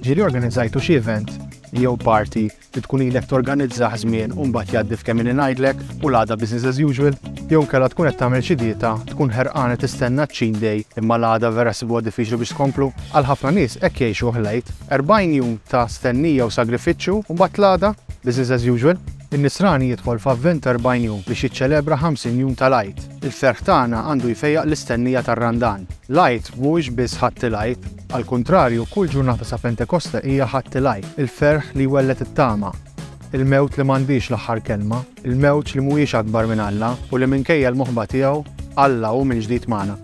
Ġieli organizzajtu xi event jew party li tkun ilek torganizzah żmien u mbagħad jgħaddi f'kemm inni ngħidlek u l-għada business as usual? Jew inkella tkun qed tagħmel xi dieta, tkun ħerqana tistenna ċ-cheat day imma l-għada vera ssibha diffiċli biex tkomplu? Għal ħafna nies hekk jgħixuh l-Għid. 40 jum ta' stennija u sagrifiċċju u mbagħad l-għada business as usual. In-Nisrani jidħol f'avvent ta' erbgħin jum biex jiċċelebra ħamsin jum tal-Għid. Il-ferħ tagħna għandu jfejjaq l-istennija tar-Randan. L-Għid mhuwiex biss Ħadd il-Għid. Għall-kuntrarju, kull ġurnata sa Pentekoste hija Ħadd il-Għid, il-ferħ li jwelled it-tama, il-mewt li m'għandhiex l-aħħar kelma, il-mewġ li mhuwiex akbar minn Alla u li minkejja l-moħba tiegħu, Alla hu mill-ġdid magħna.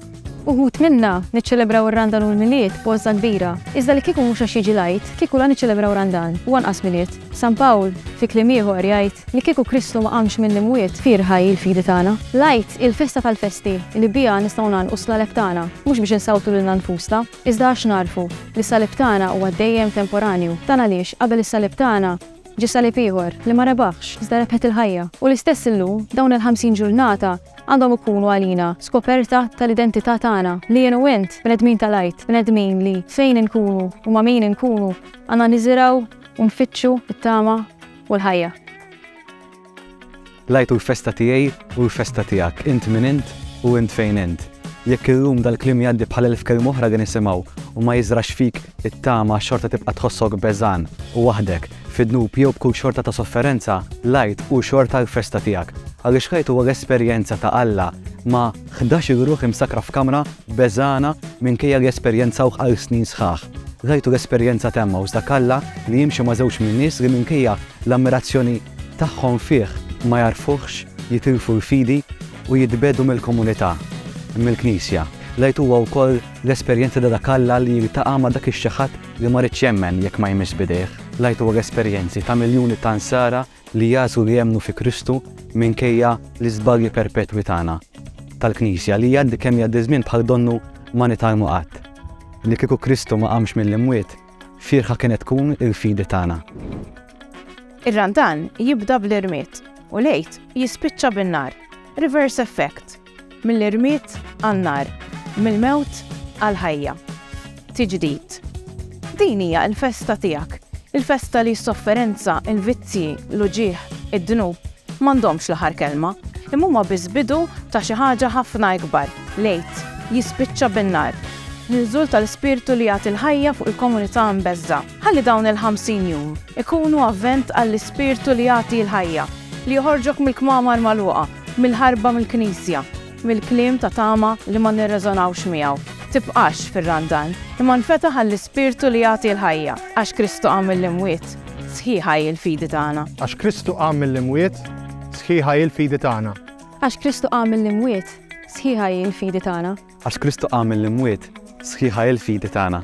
Uħud minna niċċelebraw ir-Randan u l-Milied b'għożża kbira. Iżda li kieku mhux għax jiġi l-Għid, kieku la niċċelebraw Randan u anqas Milied. San Pawl, fi kliem ieħor, jgħid li kieku Kristu ma qamx mill-imwiet, fierħa hi l-fidi tagħna. L-Għid hi l-festa tal-festi li biha nistgħu ngħalqu s-slaleb tagħna, mhux biex insawtu lilna nfusna, iżda għax nagħrfu li s-salib tagħna huwa dejjem temporanju. Dan għaliex qabel is-salib tagħna ġie salib ieħor li ma rebaħx, iżda rebħet il-ħajja. U l-istess illum, dawn il-ħamsin ġurnata, għandhom ikunu għalina skoperta tal-identità tagħna, li jien u int, bnedmin tal-għid, bnedmin li fejn inkunu u ma' min inkunu, għandna niżirgħu u nfittxu t-tama u l-ħajja. L-Għid hu l-festa tiegħi u l-festa tiegħek, int min int u int fejn int. Jekk illum dal-kliem jgħaddi bħal elf kelma oħra li nisimgħu u ma jiżrax fik it-tama xorta tibqa' tħossok beżgħan u waħdek, fid-dnub jew b'kull xorta ta' sofferenza, l-Għid hu xorta l-festa tiegħek, għaliex l-Għid huwa l-esperjenza ta' Alla ma' ħdax-il ruħ imsakkra f'kamra beżgħana minkejja li esperjenzawh għal snin sħaħ. L-Għid hu l-esperjenza ta' Emmaus, dak Alla li jimxi ma' żewġ min-nies li minkejja l-ammirazzjoni tagħhom fih ma jagħrfuhx, jitilfu l-fidi u jitbiegħdu mill-komunità, mill-Knisja. L-Għid huwa wkoll l-esperjenza ta' dak Alla li jiltaqa' ma' dak ix-xi ħadd li ma riedx jemmen jekk ma jmissx b'idejh, l-ightwar esperjenzi ta' miljuni ta' Nsara li għażlu li jemmnu fi Kristu minkejja l-iżbalji perpetwi tagħna, tal-Knisja, li jgħaddi kemm jgħaddi ż-żmien bħal donnu ma nitgħallmu qatt, li kieku Kristu ma qamx mill-imwiet, fierħa kienet tkun il-fidi tagħna. Ir-Randan jibda bl-irmied u l-Għid jispiċċa bin-nar. Reverse effect. Mill-irmied għan-nar, mill-mewt għall-ħajja. Tiġdid. Din hija l-festa tiegħek, il-festa li s-sofferenza, il-vizzji, l-uġigħ, id-dnub m'għandhomx l-aħħar kelma, imma huma biss bidu ta' xi ħaġa ħafna ikbar, l-Għid jispiċċa bin-nar, l-inżul tal-Ispirtu li jagħti l-ħajja fuq il-komunità mbeżżgħa. Ħalli dawn il-ħamsin jum ikunu avvent għall-Ispirtu li jagħti l-ħajja, li joħorġok mill-kmamar magħluqa, mill-ħarba mill-Knisja, mill-kliem ta' tama li ma nirreżonawx miegħu. Tibqax fir-randan, imma nfetaħ għall-Ispirtu li jagħti l-ħajja, għax Kristu qam mill-imwiet, sħiħa hi l-fidi tagħna. Għax Kristu qam mill-imwiet, sħiħa hi l-fidi tagħna. Għax Kristu qam mill-imwiet, sħiħa hi l-fidi tagħna. Għax Kristu qam mill-imwiet, sħiħa hi l-fidi tagħna.